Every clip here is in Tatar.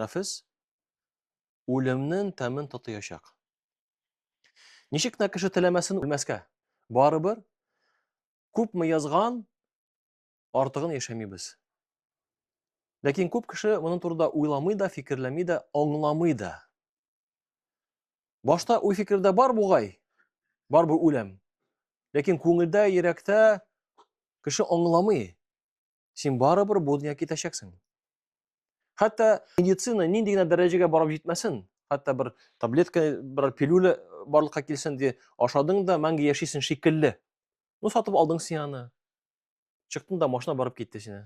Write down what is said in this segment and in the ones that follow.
нәфес үлемнен тәмен татыячак. Ничек тә кеше теләмәсен үлмәскә. Барыбер күпме язган артыгын яшәмибез. Ләкин күп кеше моның турында уйламый да, фикерләми дә, аңламый да. Башта уй фикердә бар бугай, бар бу үлем. Ләкин күңелдә, йөрәктә кеше аңламый. син барыбер бу дөнья китәчәксең. Хәтта медицина нинди генә дәрәҗәгә барып җитмәсен, хәтта бер таблетка, бер пилюля барлыкка килсен ди, ашадың да мәңге яшисең шикелле. Ну сатып алдың син аны. Чыктың да машина барып китте сине.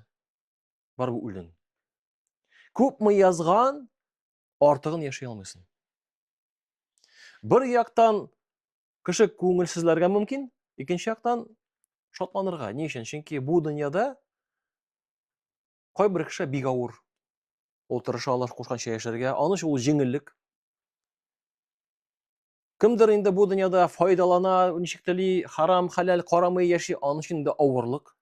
Барып үлдең. Күпме язган, артыгын яши алмыйсың. Бер яктан Кеше күңелсезләргә мөмкин, икенче яктан шатланырга. Ни өчен? Чөнки бу дөньяда кайбер кеше бик авыр. Ул тырыша Аллаһ кушканча яшәргә, аны ул җиңеллек. Кемдер инде бу дөньяда файдалана, ничек тели, харам, халал, карамый яши, аны өчен дә авырлык.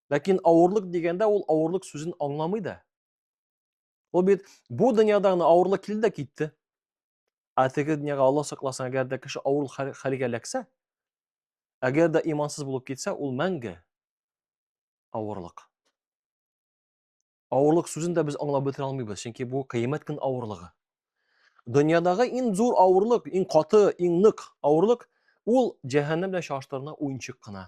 Ләкин авырлык дигәндә ул авырлык сүзен аңламый да. Ул бит бу дөньяда гына авырлык килде дә китте. Ә теге дөньяга Алла сакласын, әгәр дә кеше авыр хәлгә эләксә, әгәр дә имансыз булып китсә, ул мәңге авырлык. Авырлык сүзен дә без аңлап бетерә алмыйбыз, чөнки бу кыямәт көн авырлыгы. Дөньядагы иң зур авырлык, иң каты, иң нык авырлык ул җәһәннәм белән чагыштырганда уенчык кына.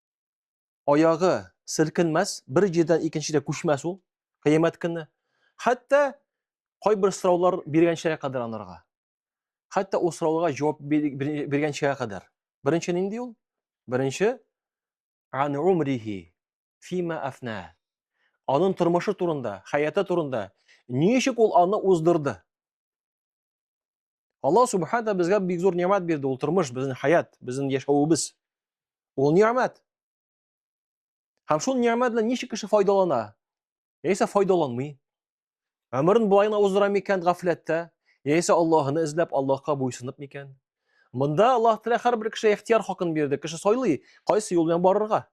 аягы селкенмәс, бер җирдән икенчегә күчмәс ул кыямәт көне. Хәтта кайбер сораулар биргәнчә кадәр анарга. Хәтта ул сорауларга җавап биргәнчә кадәр. Беренче нинди ул? Беренче ан умрихи фима афна. Анын тормышы турында, хаяты турында, ничек ул аны уздырды? Алла субхана безгә бик зур ниямәт бирде, ул тормыш, безнең хаят, безнең яшәвебез. Ул ниямәт. Һәм шул ниямәт белән ничек кеше файдалана? Яисә файдаланмый. Гомерен болай гына уздыра микән гафләттә? Яисә Аллаһыны эзләп, Аллаһка буйсынып микән? Монда Аллаһ Тәгалә һәрбер кешегә ихтияр хакын бирде. Кеше сайлый, кайсы юл белән барырга.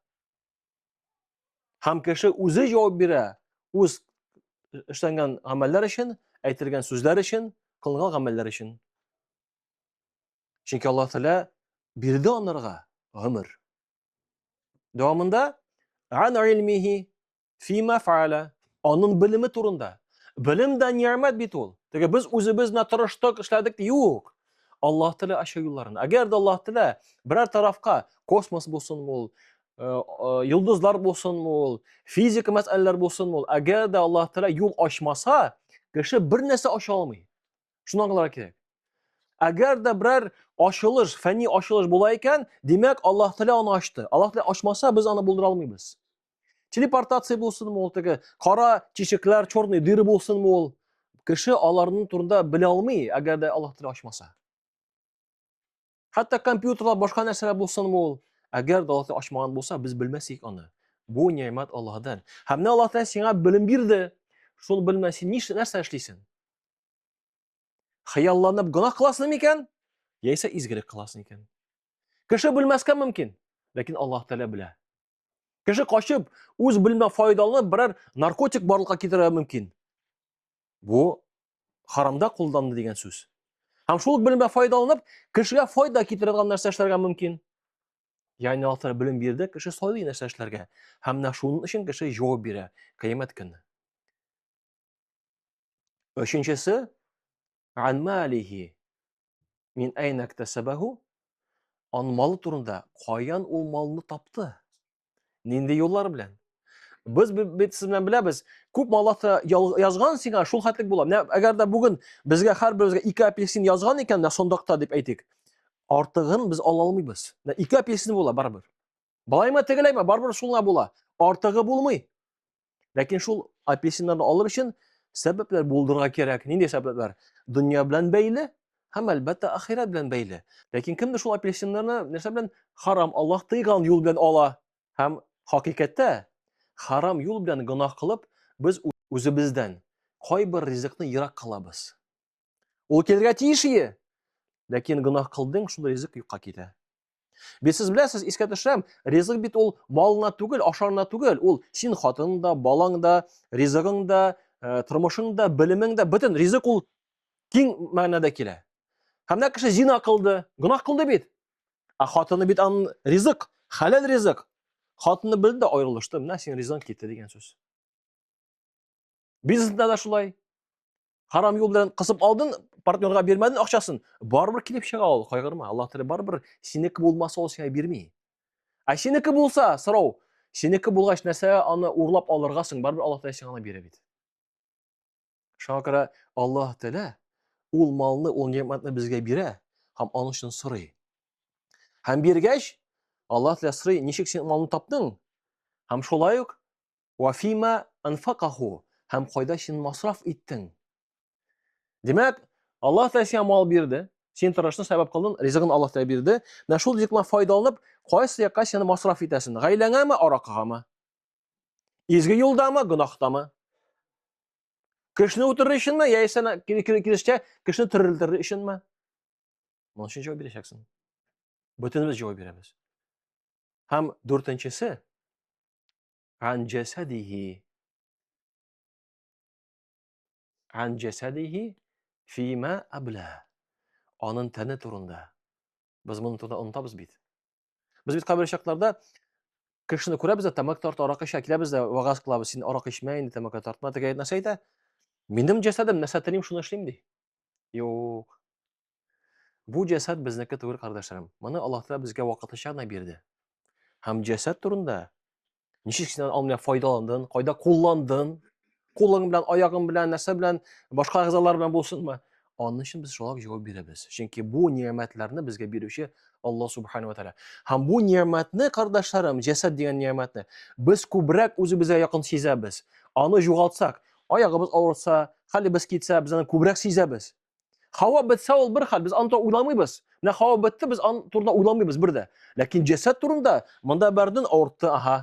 Һәм кеше үзе җавап бирә үз эшләнгән гамәлләр өчен, әйтелгән сүзләр өчен, кылган гамәлләр өчен. Чөнки Аллаһ Тәгалә бирде анарга гомер. Дәвамында ан илмихи фима фаала анын белеме турында. Белем дә ниямәт бит ул. Теге без үзебез генә тырыштык, эшләдек, юк. Аллаһ Тәгалә ача юлларын. Әгәр дә Аллаһ Тәгалә берәр тарафка космос булсын ул, э, э, йолдызлар булсын ул, физика мәсьәләләр булсын ул, әгәр дә Аллаһ Тәгалә юл ачмаса, кеше бер нәрсә ача алмый. Шуны аңларга кирәк. Әгәр дә берәр ачылыш, фәнни ачылыш була икән, димәк Аллаһ Тәгалә аны ачты. Аллаһ Тәгалә ачмаса, без аны булдыра алмыйбыз. Телепортация булсынмы ул теге кара тишекләр, черный дыры булсынмы ул? Кеше аларның турында белә алмый, әгәр дә Аллаһ теле ачмаса. Хәтта компьютерлар, башка нәрсәләр булсынмы ул? Әгәр дә Аллаһ ачмаган булса, без белмәсек аны. Бу ниәмәт Аллаһдан. Һәм менә Аллаһ Тәгалә сиңа белем бирде. Шул белмә син ниш нәрсә эшлисең? Хыялланып гына кыласың микән? Яисә изгелек кыласың икән? Кеше белмәскә мөмкин, ләкин Аллаһ Тәгалә белә. Кеше качып, үз белмә файдаланып берәр наркотик барлыкка китерергә мөмкин. Бу харамда кулланды дигән сүз. Һәм шул белмә файдаланып, кешегә файда китерергә нәрсә эшләргә мөмкин. Яни алар белем бирде, кеше сайлый нәрсә эшләргә. Һәм менә шуның өчен кеше җавап бирә кыямәт көне. Өченчесе, ан малихи, Мин әйнә ктәсәбәһү? Ан малы турында, каян ул малны тапты? Нинди юллар белән? Без бит сез белән беләбез, күп малата язган сиңа шул хәтлек була. Менә әгәр дә бүген безгә һәрберебезгә ике апельсин язган икән, менә сондакта дип әйтик. Артыгын без ала алмыйбыз. Менә ике апельсин була барыбер. Былаймы тегеләйме, барыбер шулга була. Артыгы булмый. Ләкин шул апельсиннарны алыр өчен сәбәпләр булдырырга кирәк. Нинди сәбәпләр? Дөнья белән бәйле һәм әлбәттә ахирәт белән бәйле. Ләкин кемдер шул апельсиннарны нәрсә белән харам Аллаһ тыйган юл белән ала һәм хакыйкатьтә харам юл белән гөнаһ кылып, без үзебездән кайбер ризыкны ерак кылабыз. Ул килергә тиеш ие. Ләкин гөнаһ кылдың, шунда ризык юкка китә. Бит сез беләсез, искә төшерәм, ризык бит ул малына түгел, ашарына түгел, ул син хатының да, балаң да, ризыгың да, э, тормышың да, белемең дә, бөтен ризык ул киң мәгънәдә килә. Һәм менә кеше зина кылды, гөнаһ кылды бит. Ә хатыны бит аның ризык, хәләл ризык. Хатыны белде дә аерылышты, менә син ризыгың китте дигән сүз. Бизнесда да шулай. Харам юл белән кысып алдың, партнерга бирмәдең акчасын, барыбер килеп чыга ул, кайгырма. Аллаһ Тәгалә барыбер синеке булмаса ул сиңа бирми. Ә синеке булса, сорау, синеке булгач нәрсә аны урлап алырга соң, барыбер Аллаһ Тәгалә сиңа аны бирә бит. Шуңа күрә Аллаһ Тәгалә ул малны, ул ниъмәтне безгә бирә һәм аның өчен сорый. Һәм биргәч, Аллаһ Тәгалә сорый, ничек син малны таптың? Һәм шулай ук Вә фима анфакаху һәм кайда син масраф иттең? Димәк, Аллаһ Тәгалә сиңа мал бирде, син тырыштың, сәбәп кылдың, ризыгын Аллаһ Тәгалә бирде. Менә шул ризыктан файдаланып, кайсы якка син масраф итәсең? Гаиләңәме, аракыгамы? Изге юлдамы, гөнаһтамы? Кешене үтерер өченме, яисә киресенчә кешене терелтер өченме? Моның өчен җавап бирәчәксең. Бөтенебез җавап бирәбез. Һәм дүртенчесе, Ан джасадихи. Ан джасадихи фима абла. Анын тәне турында. Без моны турында онтабыз бит. Без бит кабер чакларда кешене күрәбез дә, тамак тарта, арак ичә, киләбез дә, вагаз кылабыз, син арак ичмә инде, тамак тартма, тегә нәрсә әйтә? Минем җәсәдем, нәрсә телим, шуны эшлим ди. Юк. Бу җәсәд безнеке түгел, кардәшләрем. Моны Аллаһ Тәгалә безгә вакытлыча гына бирде. Һәм җәсәд турында ничек син алмыйда файдаландың, кайда кулландың, кулың белән, аягың белән, нәрсә белән, башка әгъзалар белән булсынмы? Аны өчен без шулай җавап бирәбез. Чөнки бу ниямәтләрне безгә бирүче Аллаһ Субхану Тәгалә. Һәм бу ниямәтне, кардәшләрем, җәсәд дигән ниямәтне без күбрәк үзебезгә якын сизәбез. Аны югалтсак, аягыбыз авырса, хәлебез китсә, без аны күбрәк сизәбез. Хава бетсә ул бер хәл, без аны турында уйламыйбыз. Менә хава бетте, без аны турында уйламыйбыз бер дә. Ләкин җәсәд турында монда бәрден авыртты, аһа.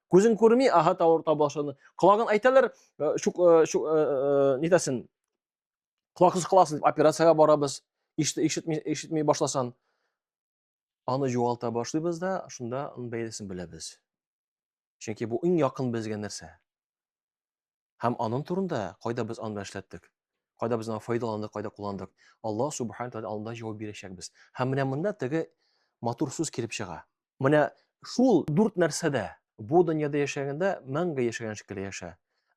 Күзен күрми, аһа тавырта башлады. Колагын әйтәләр, э, шук э, шук э, э нитәсен. Колаксыз кыласыз дип операциягә барабыз. Ишетми ишетми башласан. Аны югалта башлыйбыз да, шунда аны бәйлесен беләбез. Чөнки бу иң якын безгә нәрсә. Һәм анын турында, кайда без аны эшләттек, кайда без аны файдаландык, кайда кулландык, Аллаһ Субхана Тәгалә алдында җавап бирәчәкбез. Һәм менә монда теге матур сүз килеп чыга. Менә шул дүрт нәрсәдә бу дөньяда яшәгәндә мәңге яшәгән шикелле яшә.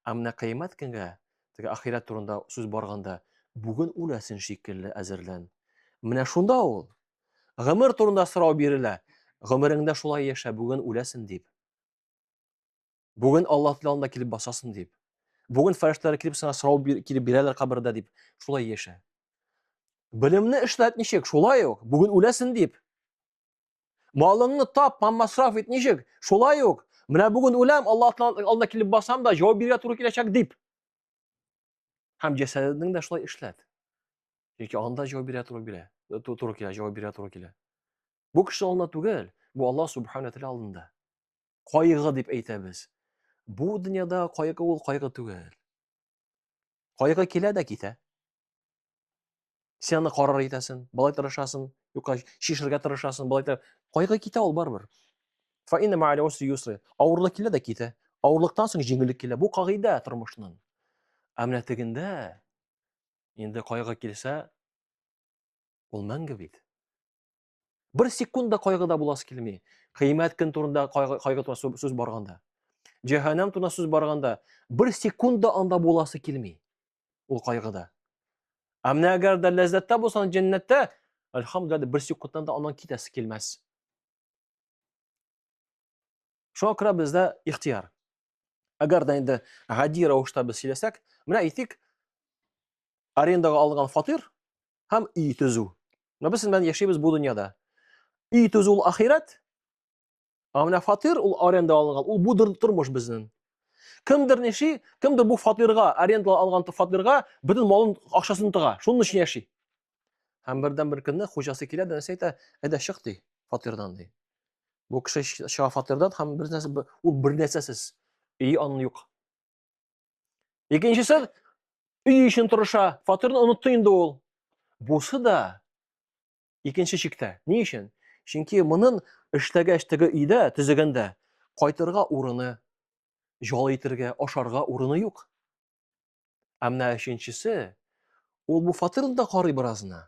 Ә менә Кыямәт көнгә, теге ахирәт турында сүз барганда, бүген үләсен шикелле әзерлән. Менә шунда ул гомер турында сорау бирелә. Гомереңдә шулай яшә, бүген үләсен дип. Бүген Алла тилалында килеп басасың дип. Бүген фәрештәләр килеп сиңа сорау килеп бирәләр кабердә дип. Шулай яшә. Белемне эшләт ничек? Шулай ук. Бүген үләсен дип. Малыңны тап, масраф ит ничек? Шулай ук. Менә бүген үләм, Алла алдына килеп басам да, җавап бирергә туры киләчәк дип. Һәм җәсәдеңне дә шулай эшләт. Чөнки анда җавап бирә туры килә. Э, туры килә, җавап бирә туры килә. Бу кеше алдында түгел, бу Алла субхана тәгалә алдында. кайгы дип әйтәбез. Бу дөньяда кайгы ул кайгы түгел. Кайгы килә дә китә. Сен аны карар итәсен, былай тырышасың, юкка чишергә тырышасың, былай тырышасың. Кайгы китә ул барыбер. Фа инна ма'аль усри юсра. Авырлык килә дә китә. Авырлыктан соң җиңеллек килә. Бу кагыйдә тормышның. Ә менә тегендә инде кайгы килсә, ул мәңге бит. Бер секунд да кайгыда буласы килми. Кыямәт көн турында кайгы, кайгы турында сүз барганда. Җәһәннәм турында сүз барганда, бер секунд да анда буласы килми. Ул кайгыда. Ә менә әгәр дә ләззәттә булсаң, җәннәттә, әлхамдулиллаһ, бер секундтан да аннан китәсе килмәс. Шуңа күрә бездә ихтияр. Әгәр дә инде гади рәвештә без сөйләсәк, менә әйтик, арендага алган фатир, һәм өй төзү. Менә без белән яшибез бу дөньяда. Өй төзү ул ахирәт. Ә менә фатир ул аренда алынган, ул бу тормыш безнең. Кемдер ниши, кемдер бу фатирга, аренда алган фатирга бөтен малын, акчасын тыга. Шуның өчен яши. Һәм бердән бер көнне хуҗасы килә дә нәрсә әйтә, әйдә чык ди, фатирдан ди. Бу кеше чыга фатирдан һәм бер нәрсә ул бер нәрсәсез. Өй аны юк. Икенчесе өй өчен тырыша, фатирны онытты инде ул. Бусы да икенче чиктә. Ни өчен? Чөнки монын эшләгәч теге өйдә, төзегәндә кайтырга урыны, җал итергә, ашарга урыны юк. Ә менә өченчесе, ул бу фатирны да карый беразына.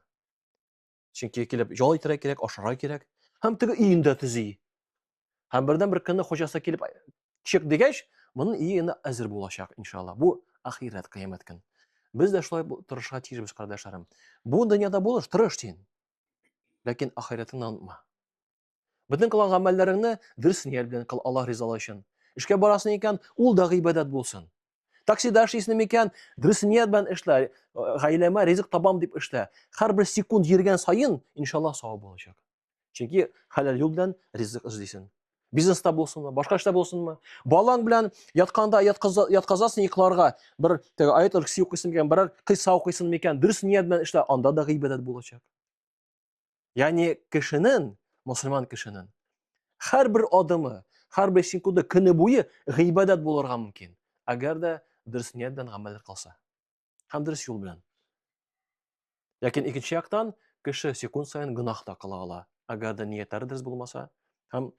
Чөнки килеп ял итәргә кирәк, ашарга кирәк. Һәм теге өен дә төзи. Һәм бердән бер көнне хуҗасы килеп чык дигәч, моның өе инде әзер булачак, иншалла. Бу ахирәт кыямәт көн. Без дә шулай тырышырга тиешбез, кардәшләрем. Бу дөньяда булыш, тырыш син. Ләкин ахирәтеңне онытма. Бөтен кылган гамәлләреңне дөрес ният белән кыл Аллаһ ризалыгы өчен. Эшкә барасың икән, ул да гыйбадәт булсын. Таксида эшлисең микән, дөрес ният белән эшлә, э, гаиләмә ризык табам дип эшлә. Һәрбер секунд йөргән саен, иншаллаһ, савап булачак. Чөнки хәләл юл белән ризык эзлисең. Бизнеста булсынмы, башка эштә булсынмы, балаң белән ятканда ятказасың йокларга, бер теге аятул курси укыйсың микән, берәр кыйса укыйсың микән, дөрес ният белән эшлә, анда да гыйбадәт булачак. Яни кешенен, мусульман кешенен, хар бер адымы, хар бер секунды көне буе гыйбадат булырга мөмкин. Әгәр дә дөрес ният белән гамәл кылса. Һәм дөрес юл белән. Ләкин икенче яктан, кеше секунд саен гынах та кыла ала. Әгәр дә ниятләре дөрес булмаса, һәм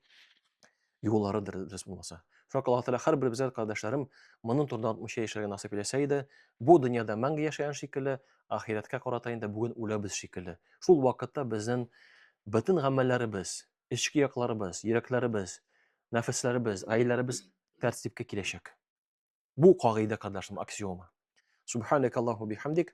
юллары дөрес булмаса. Шуңа Аллаһ Тәгалә һәрберебезгә кардәшләрем монын турында аңлатмыйча яшәргә насыйп итсә иде, бу дөньяда мәңге яшәгән шикелле, ахирәткә карата инде бүген үләбез шикелле. Шул вакытта безнең бөтен гамәлләребез, эчке якларыбыз, йөрәкләребез, нәфесләребез, гаиләләребез тәртипкә киләчәк. Бу кагыйдә, кардәшләрем, аксиома. Субханакаллаху бихамдик.